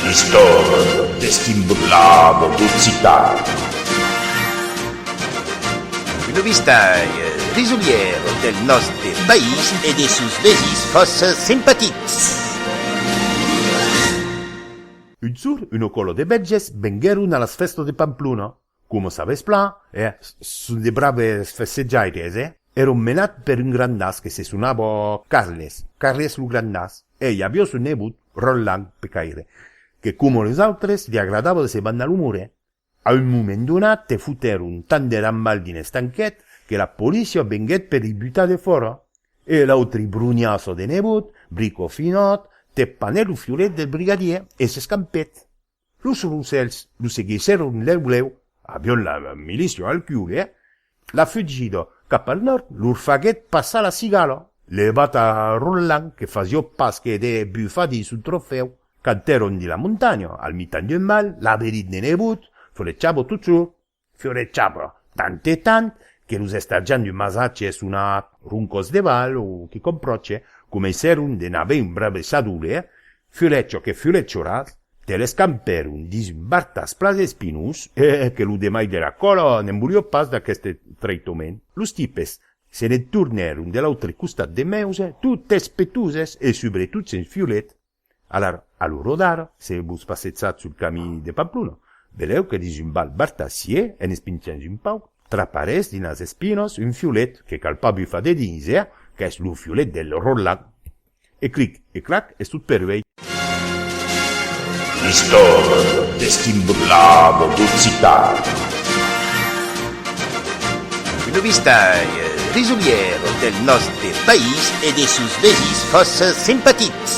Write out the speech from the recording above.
L'istòria d'este imbrolhador d'occitan. Una vista risolièra del nòste país e de sos vesis fòrça simpatics. Un jorn, una còla de bèlges venguèron a las fèstas de Pamplona. Coma sabes plan, hè, son de braves fessejaires, hè. Èron menats per un grandàs que se sonava Carles, Carles lo Grandàs, e i aviá son nebot, Roland, pecaire, que coma los autres li agradava de se banhar lo morèth. A un moment donat te fotèron tant de rambal dins estanquet que la polícia venguèt per li butar defòra, e l'autre brunhasso de nebot, bricofinat, te panèt lo fiolet del brigadier e s'escampèt. Los roncèls lo seguissèron lèu lèu, avion la milicion al cule, eh? La fugida cap al nòrd lor faguèt passar la cigala, levat a Roland que fasió pas que de bufar dins son trofèu. Cantèron dins la montanha, al mitan d'un mal, laberit nenebut, flechabotutsur. Feurè chabra, tant e tant que los estatjants d'un masatge es una roncos de val o quicòm pròche, comencèron de n'aver un brave sadoler, feurè çò que feurè choras, te l'escampèron dins un bartas plas espinós e que lo demai de la còla ne'n volió pas d'aqueste traitament. Los tipes se ne tornèron de l'autre costat de Meuse, totes petoses e subretot sens fiolet. Alar, a lo rodar, se vos passetsatz sul camí de Pamplona, velèu que dins un bal bartassier, en espinchant un pauc, traparètz dins las espinas un fiolet que cal pas bufar de dins, hè, qu'es lo fiolet del roland. E clic e clac, es tot pervèit. L'istòria d'Estimburlada d'Occitània. Una vista risolièra del nòste país e de sos veïns fòrça simpatics.